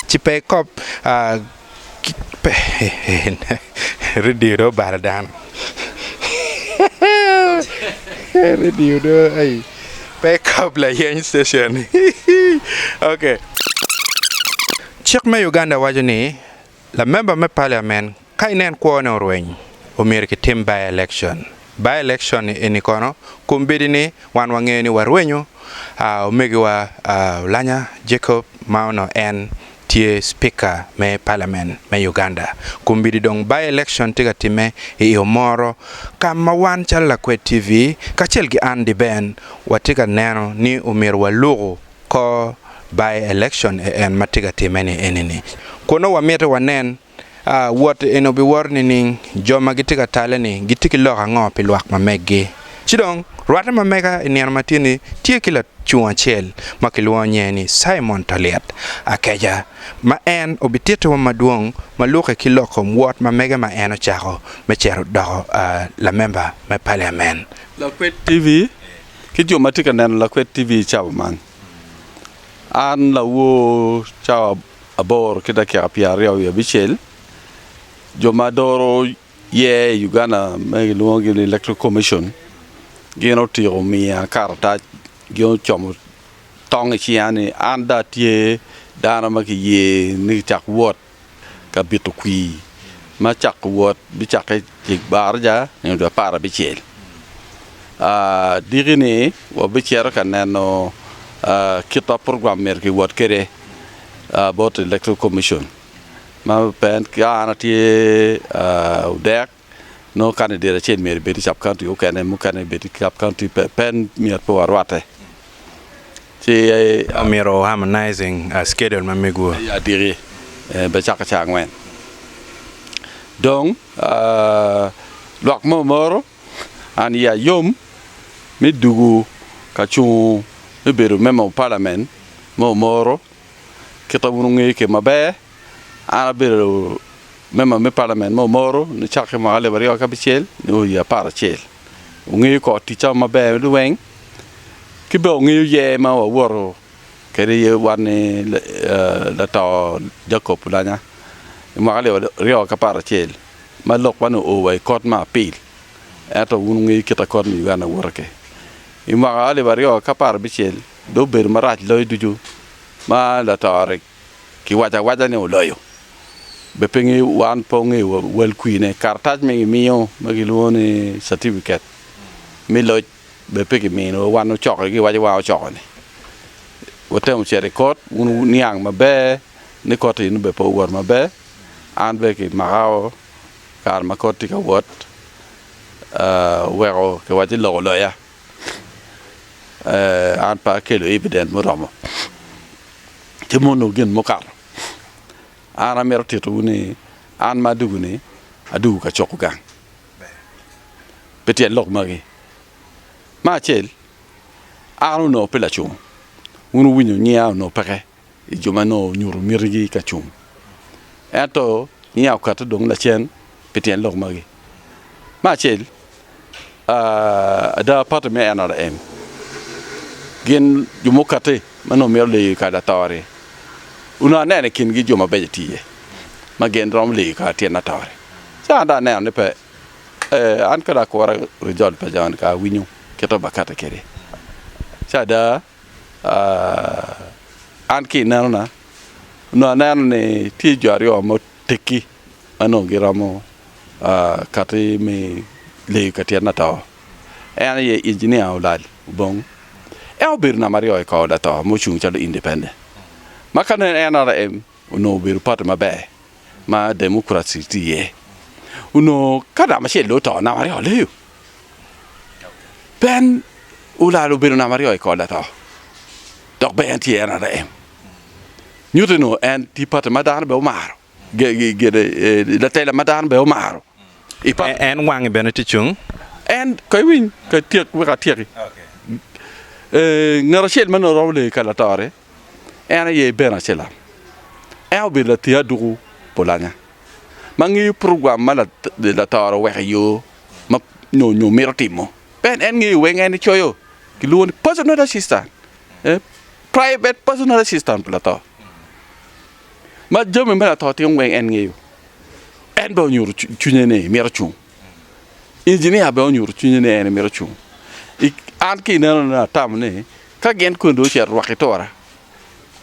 Ci pe ikop redio dong obalo dano redio dong aii pe ikop layeny station ok. Cik me Uganda waco ni. Lamemba me Parliament ka inen kwo ne orweny omyero ki tim by election, by election ni eni kono kombedi ni wan wangeyo ni warwenyo ahh omegi wa ahh Olanya Jacob ma onongo en tye speaker me Parliament me Uganda kombedi dong by election tye ka time i io moro ka ma wan calo Lakwed TV kacel ki an Diben watye ka neno ni omyero waluku Kor by election e en ma tye ka timme ni eni ni kun nongo wa miti wa nen aa wot eni obi wor nining jo ma gitye ka tale ni gitye ki lok ango pi lwak ma meggi. Ci dong rwate ma mega i nino ma tye ni tye ki lacung acel ma ki lwongo nyinge ni Simon Taliet Akeca ma en obi titi wa ma dwong ma luke ki lok kom wot ma mege ma en ocako me cito doko aa lamemba me paliamen. Lakwed TV. ki jo ma tye ka neno lakwed TV i cawa man. An lawor cawa aboro ki dakika pyeraryo wiye abicel, jo ma doro yer i Uganda ma kilwongo gini Electoral Commission gin otyeko miya karatac gin ocomo tong i cinga ni an dong atye dano ma kiyer ni kicak wot. ka bito kwir ma cako wot bicakke i baraja nyo dwe apar abicel. Diki-ni wabicito ka neno kit ma program myero kiwot kwede bot Electoral Commission ma ka an atye odek nongo kani diro acel myero ibed i sub county mukene mukene ibed i sub county pe pen myero pe warwatte ci eh, Omyero harmonizing uh, schedule ma mego. aye adiki eh, be cako ca angwen dong ah, lwak mo moro an iya yom me dugu ka cungo me bedo member of parliament mo moro kita wun wungeyo ke maber. An abedo member me parliament me Omoro nicakke mwaka alip aryo ki abicel nyo i apar acel. Wungeyo kor ticca maber ni weng ki bene wungeyo yer ma wawoto kede iye wan ni lato Jacob Oulanya i mwaka alip aryo ki apar acel ma lok man oo wa i kot me apil ento wun wungeyo kit ma kot me Uganda woto ki. I mwaka alip aryo ki apar abicel dong obedo marac loyo ducu ma lato-ri ki waco awaca ni oloyo, be pe ngeyo wan pe ongeyo wel kwine. Karatac ma gi miyo ma ki lwongo ni certificate me loc be pe ki mino wa wan ocoke gi waco wa ocoko ni. Wa temo cito i kot wun wu niang ma ber ni kot eni be pe owot ma ber an be ki maka o kare ma kot tye ka wot oweko ki waco ni lok oloya. eh, an pe akelo evident muromo ci ma onongo gin mukato. An amito titowu ni an ma adugu-ni adugu ka cuko gang pi tyen lok magi. Me acel, an onongo pe lacungo, wun wuwinyo nyiya onongo peke i jo ma nongo onyuto mitigi ka cung. Ento niang okato dong lacen pi tyen lok magi. Me acel, ada pati me NRM gin jo mukatte ma nongo mito leyo i kare lator-ri, onongo aneno i kingi jo mabeco tye iye ma gin romo leyo i kare tyen lator-ri. Ci an dong aneno ni pe. An kadi akura rizol pa jami-ni ka awinyo kit ma bakatte kwede ci ada. An ki i nenona, onongo aneno ni tye jo aryo ma oteggi ma onongo giromo kati me leyo ka tyena to. En aye injinia olal obong. En obedo namba aryo i kor lato ma ocung calo independent. Ma ka nongo en olo em Onongo obedo pati maber ma Democrats tye iye. Onongo ka namba acel dong oto, namba aryo leyo. Ben olal obedo namba aryo i kor lato, dok bene en tye NRM. Nyutte onongo en tye pati ma dano bene omaro, eh, latela ma dano bene omaro. En wange bene tye cung. En, ka iwiny, ka ityek, wek atyeki. Eh, ngat acel ma nongo romo leyo i kar latorre. en aye Iben Acelam. En obedo lating aduku pulanya ma ngeyo program ma Latoro oweko i yo ma nyo mito timo. Ben en ngeyo weng en nicoyo kilwongo ni personal assistant, private personal assistant pi Lator. Ma jami ma Lator timo weng en ngeyo. En bene onyuto cwinye ni mito cung. Injinia bene onyuto cwinye ni en mito cung. An ki inenona atamo ni ka gin koni dong ocito rwaki tora,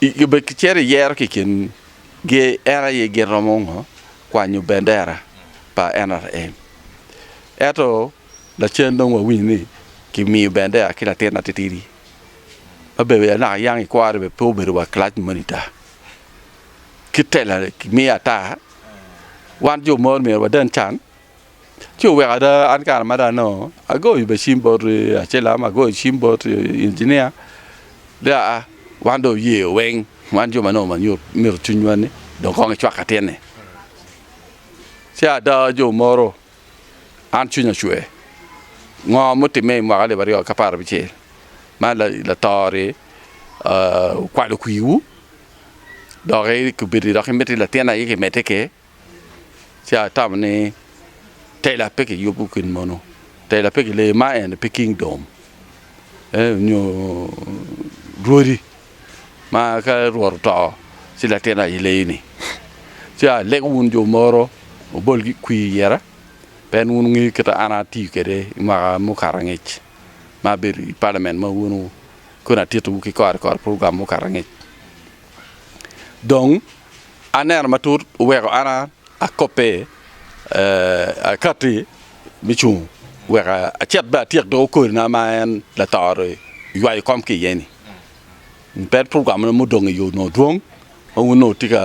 obed kicito iyero ki kingi en aye gin romo ngo kwanyo bendera pa NRM. Ento lacen dong wawinyo ni kimiyo bendera ki latin atitidi ma bene anaka yang ikwaro ni bene pe obedo wa class monitor. kit tela kimiyo ata, wan jo mor myero wadan can. Ci oweko ada an kare ma dong anongo agoyo bene cim bot Acilam, agoyo cim bot Injinia ni aa wan dong oye weng wan jo ma nongo manyo mito cwinywa-ni dong kong ecwak ka tyene. Ci ada jo moro an cwinya ocwer ngo mutimme i mwaka alip aryo ki apar abicel ma lator-ri okwalo kwiwu. doki kibedo ni dok imito ni latin aye kimedde ki ci atamo ni tela pe kiyubo gin mono, tela pe kileyo ma en aye pe kingdom nyo rwodi ma ka rwot oto ci latin aye leyo ni ci alego wun jo moro obol ki kwi i yere pien wun wungeyo kit ma an atiyo kwede i mwaka mukato angec ma abedo i palamen ma wun koni atitowu ki kore kore program mukato angec. Dong aneno matut weko an akobbe akati me cung weko acit bene atyek doko kodina ma en latoro ywayo kom ki iye ni. Pe program mo mudong iyo nongo dwong ma wun nongo wutye ka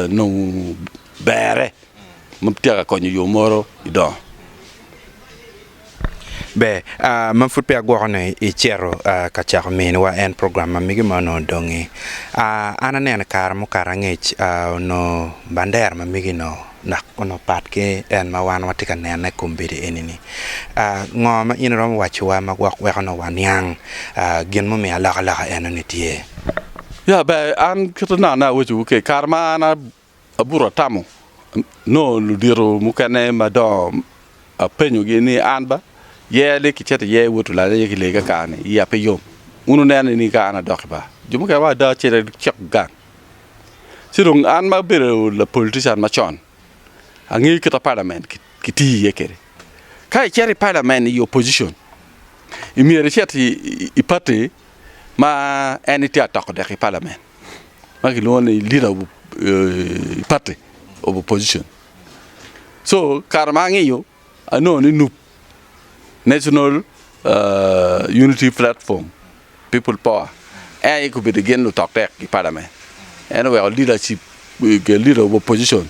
nongo bere ma wutyeka konyo yo moro idongo. Ber, aa, ma pud peya agwoko ni icito ka cako miniwa en program ma mege ma onongo odongi. Aa, an aneno kare mukato angec, aa, onongo bandera ma mege onongo nak onongo pat ki en ma wan watye ka nene i kombeddi eni-ni. Aa, ngo ma in iromo wacciwa ma gwok weko onongo waniang, aa, gin mumiyo alokaloka eno-ni tye? Ya, ber, an kite na, na awecciwu kec, kare ma an a. abuto atamo nongo ludito mukene madongo apenyogi ni an ba yer ni kicito iye wot olanya iye ki lee kakani iya pe yom wun wuneno ni ka an adok i bar jo mukene wa ada cito cok gang ci dong an ma abedo lapolitican macon angeyo kit ma palamen kitiyo iye kwede ka icito i palamen i opocion myero icit i pati ma en tye atoko dek i palamen. ma kilwongo ni leader of eh, party of opposition so kare ma ang'iyo anongo ni nup national uh, unity platform people power en aye kobedo gin lutok tek i parliament en oweko leadership eh, leader of opposition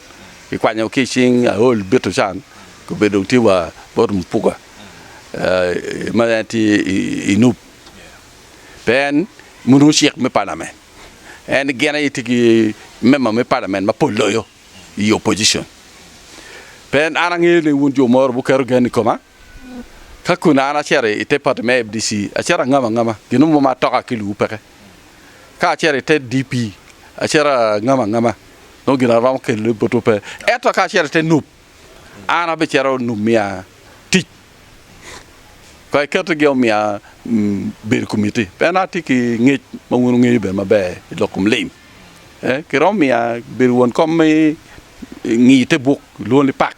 kikwanyo ki cing aol bito can kobedo dong tye wa bot mupuga eh, ma en tye i- i nup pe en onongo cik me palament en gin aye tye ki member me palament mapol loyo i opposition pe en an angeyo ni wun jo moro buketo gen i koma ka kun an acito ite party me FDC acito angamo angama gin mo ma atoka ki luwu peke ka acito ite DP acito angamo angama nongo gin aromo kelo botwu pe ento ka acito ite nup an abicito onongo miya tic pe iketo gi omiya bedo komiti pien an atye ki ngec ma wun wungeyo bene maber i lok kom lim ki romo miya bedo won kom me ngiyo te buk lwongo ni pak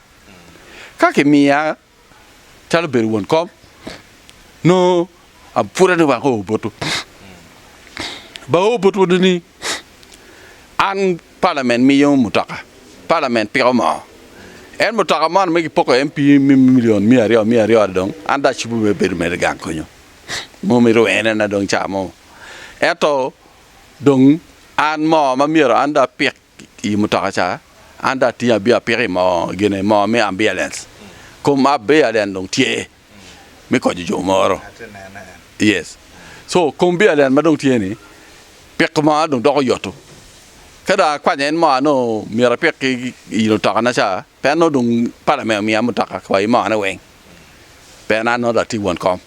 ka kimiya calo bedo won kom nongo apwode ni wako oboto ba oboto ni an palament miyo mutoka palament piko moo en mutoka moni me gipoko MP me milion miya aryo miya aryo dong an dong acubo me bedo mere gang konyo mo mi rwene na dong camo ento dong an moo ma myero an dong apik i mutoka ca, an dong atingo abia apiko i moo gine moo me ambialens kom abialen dong tye me konyo jo moro yes so kom bialen ma dong tye ni piko moo dong doko yoto ka dong akwanya en moo anongo myero apik ki i otoka na ca. Pien nongo dong Palamen omiya mutoka pa imone weng, pien an nongo dong atye won kom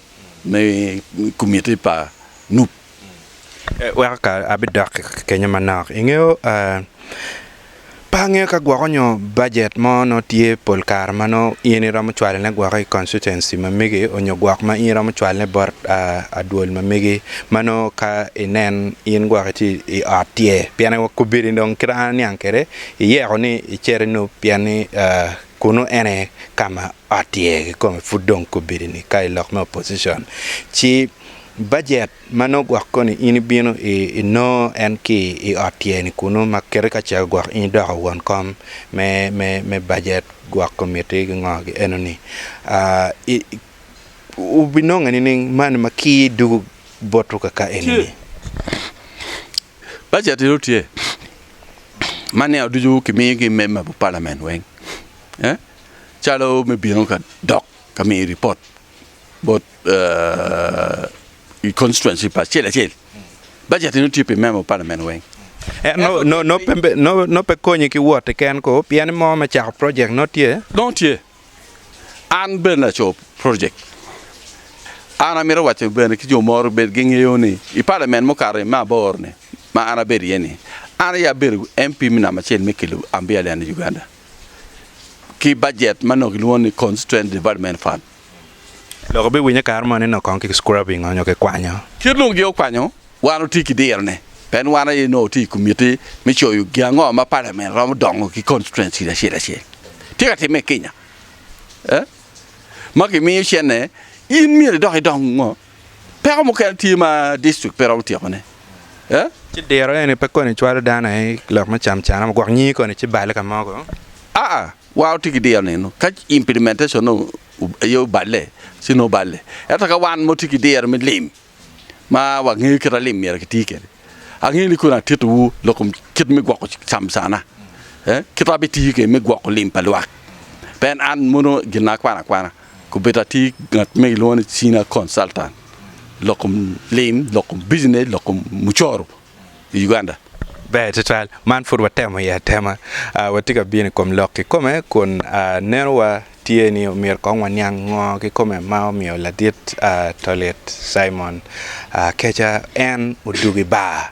me komiti pa Nup. Weko ka abidok kenyo manok, ingeyo pe angeyo ka gwoko nyo bajet mo nongo tye pol kare ma nongo in iromo cwalo ne gwoko i constituency ma megi onyo gwok ma in iromo cwalo ne bot adwol ma megi ma nongo ka inen in gwok itye i ot tye pien aye wakobiri dong kit ma an aniang kwede. Iyeko ni icerinu pien ni kunu en aye ka ma ot iye kikome pud dong kobedini ka i lok me opposition. Ci bajet ma nongo gwok koni in ibino inongo en ki i ot iye-ni kunu ma kite ka cego gwok in idoko won kom me bajet gwok komitti ki ngo ki enoni. Wubinonge nining mani ma kir dugu boto kaka enini? Paci atito tye ma nino ducu kimiyo ki member me parliament weng calo me bino ka dok ka miyo report bot i constituency pa acel acel baci atito tye pi member me parliament weng. Nongo pe konyi ki wot keken ko pien mo me cako project nongo tye? Nongo tye. An bene aco project. An amito waco bene ki jo mo rubed gi ngeyo ni i parliament mukato i me aboro ni ma an abedo iye ni an aye abedo MP me namba acel me kelo ambiya lene i Uganda ki budget ma nongo kilwongo ni constituent development fund. Lok obi winye kare moni nongo kong ki scrubbing onyo ki kwanyo. Kit nongo gi okwanyo. Wan watye ki dirone pien wan aye nongo watye i komitti me coyo gin ango ma palamen romo dongo ki konstituenci acel acel. Tye ka timme i Kenya ee ma kimiyo cene. In myero idok idong ngo? Peko mukene tye ma dictrict pe romo tyekone ee. Ci diro eni pe koni cwalo dano aye ki lok me camcana mo gwok nyingi koni ci balle ka mogo? Aa, wan watye ki diro nino ka implementation-ne aye oballe ci nongo balle. Ento ka wan ma watye ki diro me lim ma wangeyo kit ma lim myero kiti kwede. Angeyo ni kong atitowu lok kom kit me gwoko camcana, kit ma abitiyo kwede me gwoko lim pa lwak. Pe en an mono gina akwano akwana, kobedo atye ki ngat ma kilwongo ni Senior Consultant lok kom lim, lok kom bijinec, lok kom mucoro. i Uganda? Ber twatwal. Man pud watemo iye atema. Uh, watye ka bino i kom lok kikome kun uh, nenowa tye ni omyero kong waniang ngo kikome ma omiyo ladit uh, tolit Simon uh, keca en odug i bar.